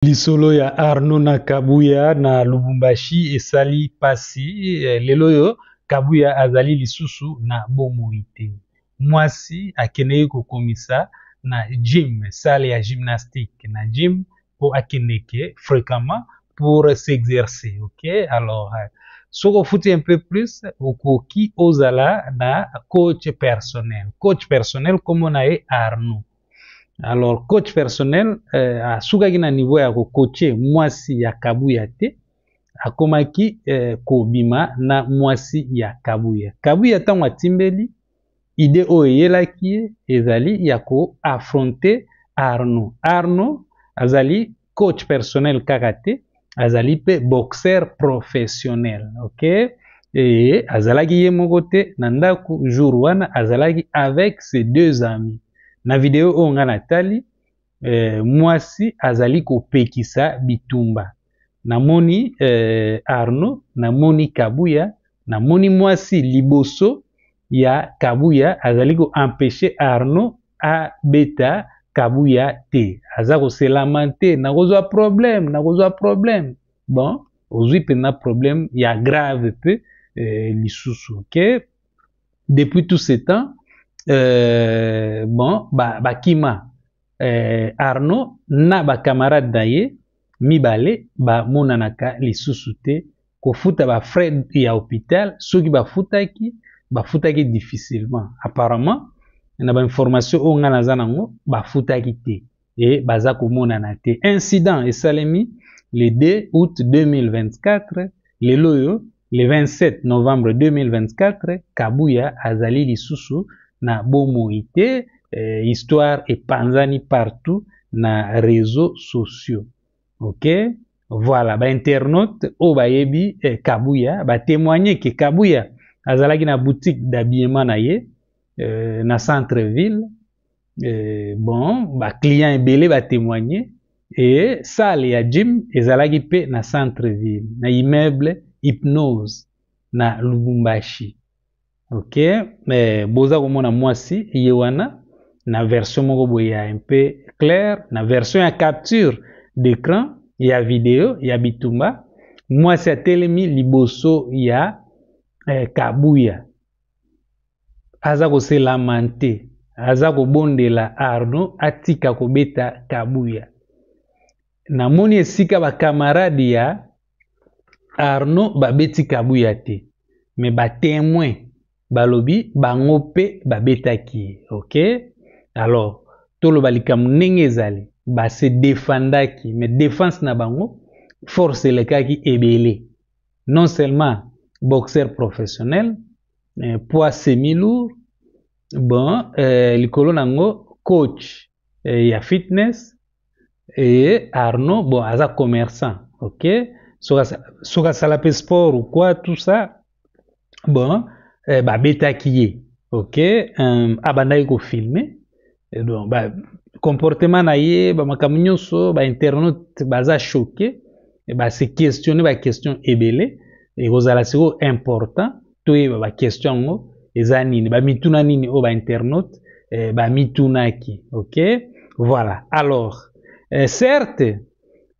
Lisolo ya Arnaud na Kabuya na Lubumbashi esali pasi. Eh, lelo oyo Kabuya azali lisusu na bomoi te. Mwasi akendeki kokomisa na gym, salle ya gymnastique na gym mpo akendeke fréquemment pour s'exercer. Ok, alors euh, soki ofuti un peu plus okoki ozala na coach personnel. Coach personnel kombo na ye Arnaud. alors coach personnel euh, asukaki na niveau ya kokoche mwasi ya kabuya te akomaki euh, kobima na mwasi ya kabuya kabuya ntango atimbeli ide oyo eyelaki ye ezali ya koaffronte arno arno azali coach personnel kaka te azali mpe boxeur professionnel ok et azalaki ye moko te na ndako jour wana azalaki avec ses deux amis na video oyo ngai natali eh, mwasi azali kopekisa bitumba namoni eh, arno namoni kabuya namoni mwasi liboso ya kabuya azali ko empêcher arnaud abeta kabuya te aza koselamante nakozwa problème nakozwa problème bon ozwi mpenza problème ya grave mpe euh, lisusu ke depuis tout ce temps euh, bon bakima ba eh, arnaud na bacamarade na ye mibale bamonanaka lisusu te kofuta bafrais ya hopital soki bafutaki bafutaki difficilement apparemment na bainformation oyo ngai naza nango bafutaki te e baza komonana te incident esalemi le 2 août 2024 lelo oyo Le 27 novembre 2024, Kabuya azali lisusu na bomoi te, eh, histoire epanzani partout na réseaux sociaux. OK? Voilà, ba internautes oyo bayebi eh, Kabuya ba témoigner que Kabuya azalaki na boutique d'habillement na ye eh, na centre ville Euh, bon ba clients ebele ba témoigner et salle ya gym ezalaki mpe na centre ville na immeuble hypnose na lubumbashi ok eh, boza komona mwasi ye wana na version moko boye ya un peu claire na version ya capture d'écran ya video ya bitumba mwasi atelemi liboso ya eh, kabuya aza kose lamante aza kobondela arno atika kobeta kabuya namoni esika bakamarade ya arno babeti kabuya te me batemoin balobi bango mpe babetaki ye ok alors toloba likambo ndenge ezali base defendaki me defense na bango force elekaki ebele non seulement boxeur professionnel eh, poids semi lourd bon eh, likolo na yango coach eh, ya fitness eye arnaud bon aza commerçant ok soki asala mpe sport ou quoi tout ça bon eh, babetaki ye ok um, abandaki kofilme Et donc, bah, comportement na ye bamakambo nyonso bainternaute baza choqué e base questionne baquestion ebele ekozala sikoyo important toyeba baquestion yango eza nini bamituna nini oyo bainternaute eh, bamitunaki ok voilà alors eh, certes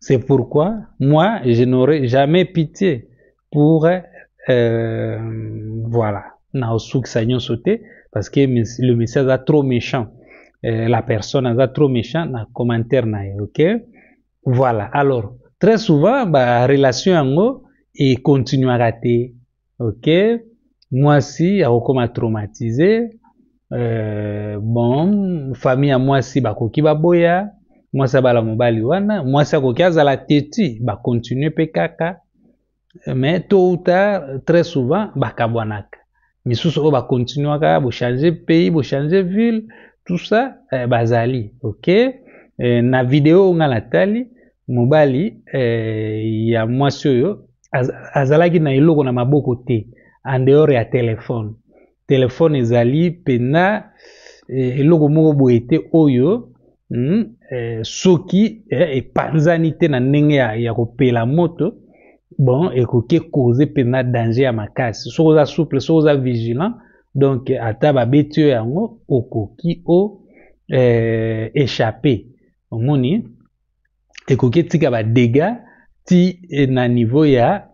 C'est pourquoi moi, je n'aurai jamais pitié pour... Euh, voilà. naosukisa nyonso te parce que le monsieur aza trop méchant euh, la personne aza trop méchant na commentaire na ye ok voilà alors très souvent barelation yango econtinuaka te ok mwasi akokoma traumatise euh, bon famille ya mwasi bakoki baboya mwasi abala mobali wana mwasi akoki azala teti bakontinue mpe kaka mais tôt ou tard très souvent bakabwanaka misusu oyo bakontinuaka bochange pays bochange ville tout ça eh, bazali ok eh, na video oyo ngai natali mobali eh, ya mwasi oyo azalaki na eloko na maboko te en dehors ya telefone telefone ezali mpenza eh, eloko moko boye te oyo mm, eh, soki eh, epanzani te na ndenge ya, ya kopela moto bon ekoki ekoze mpenza danger ya makasi soki oza souple soki oza vigilant donc ata babeti yo yango okoki o eh, échappe omoni ekoki etika ba dégâts ti eh, na niveau ya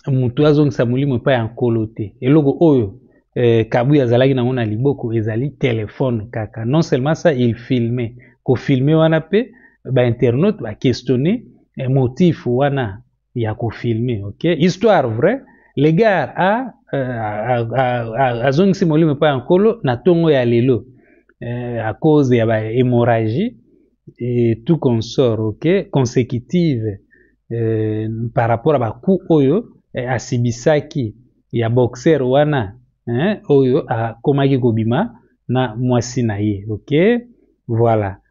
moto azongisa molimo epai ya nkolo te eloko oyo eh, kabuya azalaki nango na liboko ezali telefone kaka non seulement ça il filme kofilme wana mpe bainternaute baquestionne eh, motif wana ya ko filmer ok histoire vrai le gars a euh, azongisi molimo epai ya nkolo na ntongo ya lelo euh, à cause ya ba hémorragie et tout consort ok consécutive euh, par rapport ya bacoup oyo eh, asibisaki ya boxer wana eh, oyo akomaki kobima na mwasi na ye ok voilà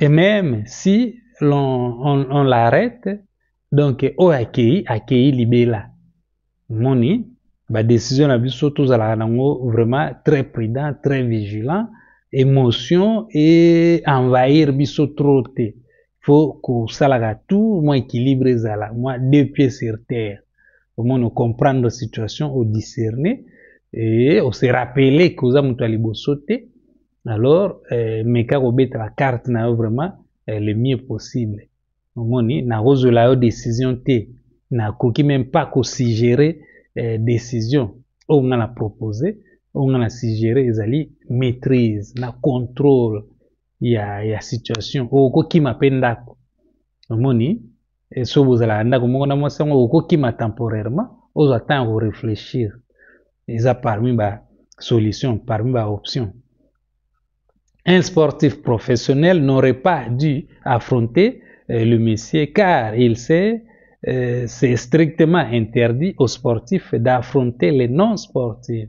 et même si l'on on, on l'arrête donc oyo akei akei libela moni badécision na biso tozalaka nango vraiment très prudent très vigilant émotion e envahir biso trop te faut kosalaka tout mwa équilibre ezala mwa deux pieds sur terre omoni ocomprendre situation odiscerne e ose rappele koza moto ya liboso te alors eh, meka kobeta ba carte na yo vraiment eh, le mieux possible omoni nakozwela yo décision te nakoki meme pas kosuggere eh, décision oyo nga na propose oyo nga na suggere ezali maîtrise na contrôle ya, ya situation oyo okokima mpe ndako omoni Et soki bozalaka ndako moko na mwasi yango okokima temporairement ozwa temps ya koreflechir eza parmi ba solution parmi ba option un sportif professionnel n'aurait pas dû affronter euh, le monsieur car il sait euh, c'est strictement interdit aux sportifs d'affronter les non sportifs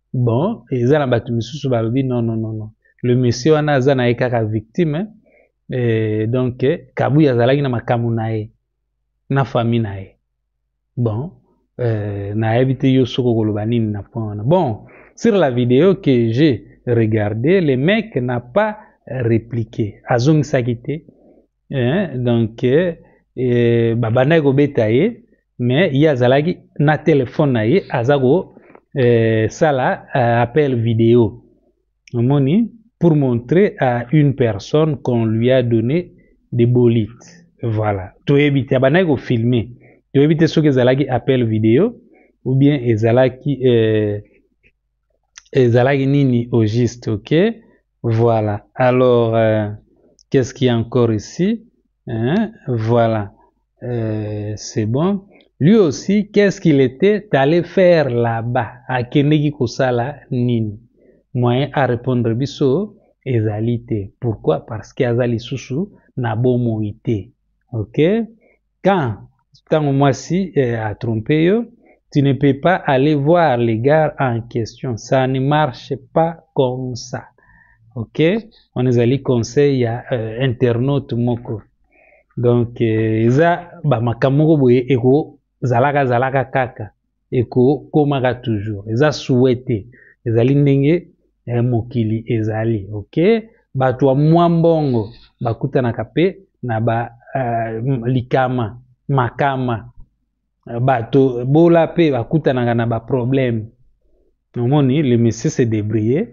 bon eza na bato misusu balobi non non non non le monsieur wana aza na ye kaka victime eh, donc kabuya azalaki na makambo na ye na famille na ye bon eh, nayebi te yo soki okoloba nini na point wana bon sur la vidéo que j'ai regardé le mec n'a pas répliqué azongisaki te eh, donc eh, babandaki kobeta ye mais ye azalaki na telefone na ye aza kosala eh, eh, appel video omoni pour montrer à une personne qu'on lui a donné des bolites voilà toyebi te abandaki kofilme toyebi te soki ezalaki appel video ou bien ezalaki eh, ezalaki nini au juste ok Voilà. Alors, euh, qu'est-ce qu'il y a encore ici hein? Voilà. Euh, c'est bon. Lui aussi, qu'est-ce qu'il était allé faire là-bas Akendeki kosala nini Moyen à répondre biso ezali te. Pourquoi Parce que azali susu na bomoi te. OK Quand tango mwasi eh, a trompe yo tu ne peux pas aller voir les gars en question ça ne marche pas comme ça ok wana ezali conseil ya euh, internaute moko donc euh, eza bamakambo moko boye ekozalaka zalaka kaka ekokomaka toujours eza souhaite ezali ndenge eh, mokili ezali ok bato ya mwa mbongo bakutanaka pe na ba uh, likama makama bato bola pe bakutanaka na baproblème omoni le monsieur se debrouille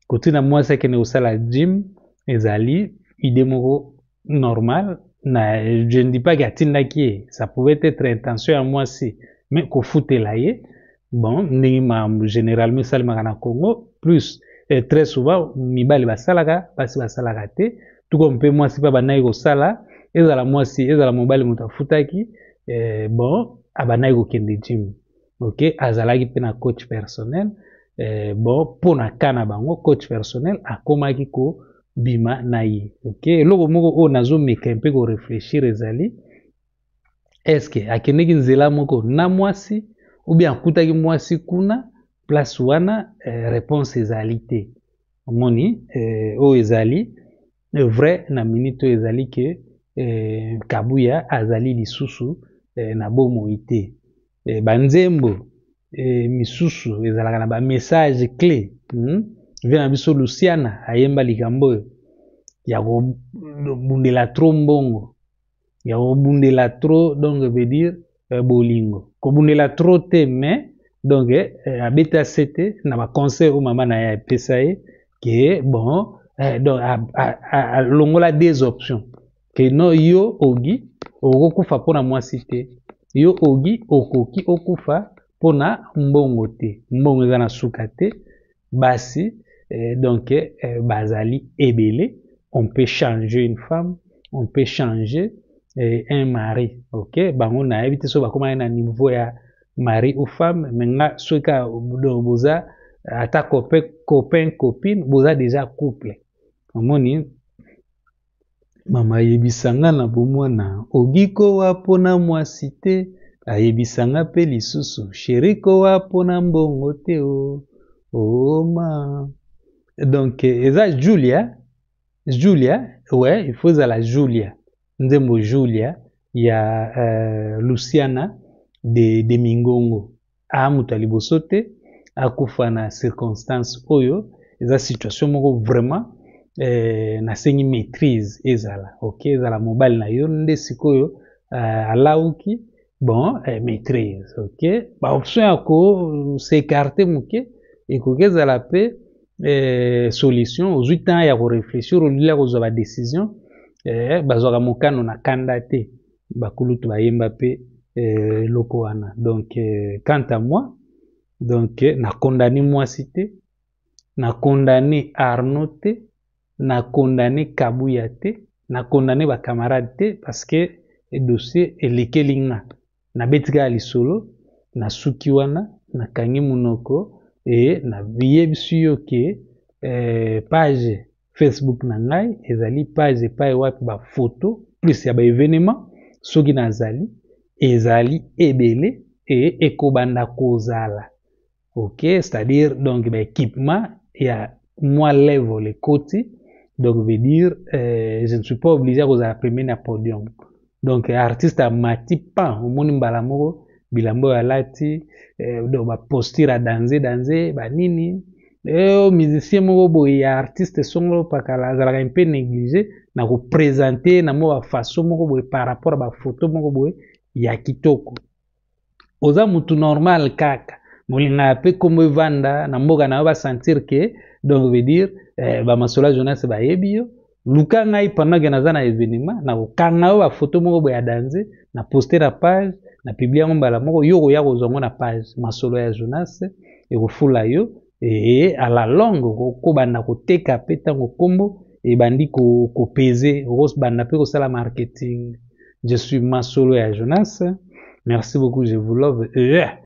kotuna mwasi akende kosala gym ezali idée moko normal na je ne dis pas que atindaki ye ça pouvait être intention ya mwasi mais kofutela ye bon ndenge makambo généralement esalemaka na congo plus eh, très souvent mibali basalaka basi basalaka te tuko mpe mwasi mpe abandaki kosala ezala mwasi ezala mobali moto afutaki eh, bon abandaki kokende gym ok azalaki mpe na coach personnel eh, bon mpo na ka na bango coach personnel akomaki kobima na ye ok eloko moko oyo nazomeka mpe koreflechir ezali eske akendeki nzela moko na mwasi oubien akutaki mwasi kuna place wana eh, réponse ezali te omoni eh, oyo ezali Le vrai na minute oyo ezali ke eh, Kabuya azali lisusu eh, na bomoi te. Eh, banzembo eh, misusu ezalaka na ba message clé hmm? vie na biso Luciana ayemba likambo oyo ya kobundela trop mbongo ya kobundela trop donc veut dire euh, bolingo kobundela trop te mais donc euh, euh, abeta sete na baconseil oyo mama na ye apesa ye ke bon eh, donc alongola des options ke no yo ogi okokufa mpo na mwasi te yo ogi okoki okufa mpo na mbongo te mbongo eza na suka te basi euh, donc euh, bazali ebele on peut changer une femme on peut changer euh, un mari ok bango nayebi te so bakomaki na niveau ya mari ou femme me nga soki kaka boza ata copain copine boza déjà couple omoni mama ayebisa nga na bomwana ogi kowa mpo na mwasi te ayebisa nga mpe lisusu sheri kowa mpo na mbongo te o oma donc eza julia julia we il faut ezala julia nzembo julia ya uh, luciana de, de mingongo aa moto ya liboso te akufa na circonstance oyo eza situation moko vraiment eh, nasengi maîtrise ezala ok ezala mobali na yo nde sikoyo eh, alauki bon eh, maîtrise ok baoption ya kosekarte moke ekoki ezala mpe eh, solution ozwi temps ya koreflechir olili ya kozwa badecision eh, bazwaka mokano na kanda te bakulutu bayemba mpe eh, eloko eh, wana donc eh, quant à moi donc eh, na condamne mwasi te na condamne arno te na condamne kabuya te na condamne bacamarade te parce que dossier elekeli nga nabeti kaka lisolo nasuki wana nakangi monoko e nabiyebisi yo ke eh, page Facebook na ngai ezali page epai wapi ba photo plus ya ba evenement soki nazali ezali ebele e ekobanda kozala ok c'est-à-dire donc ba équipement ya mwa level ekoti donc veut dire euh, je ne suis pas obligé ya kozala premier na podium donc artiste amati pan omoni mbala moko bilamba oyo alati eh, donc baposture ya danze danze banini eyo eh, musicien moko boye ya artiste songolo pakala azalaka mpe néglige na kopresente na mwa bafaso moko boye par rapport ya bafoto moko boye ya kitoko oza mutu normal kaka molinga pe kombo evanda na mboka na yo ba sentir que donc veut dire eh, ba masola jonas bayebi yo luka ngai pendant que naza na evenement na kokanga yo ba photo moko boya danze na poster na page na publie yango mbala moko yo okoya kozwa ngo na page masolo ya jonas ekofula yo Ee, à la longue okobanda koteka mpe ntango nkombo ebandi kopeze, okobanda mpe kosala marketing. Je suis Masolo ya Jonas. Merci beaucoup, je vous love. Euh.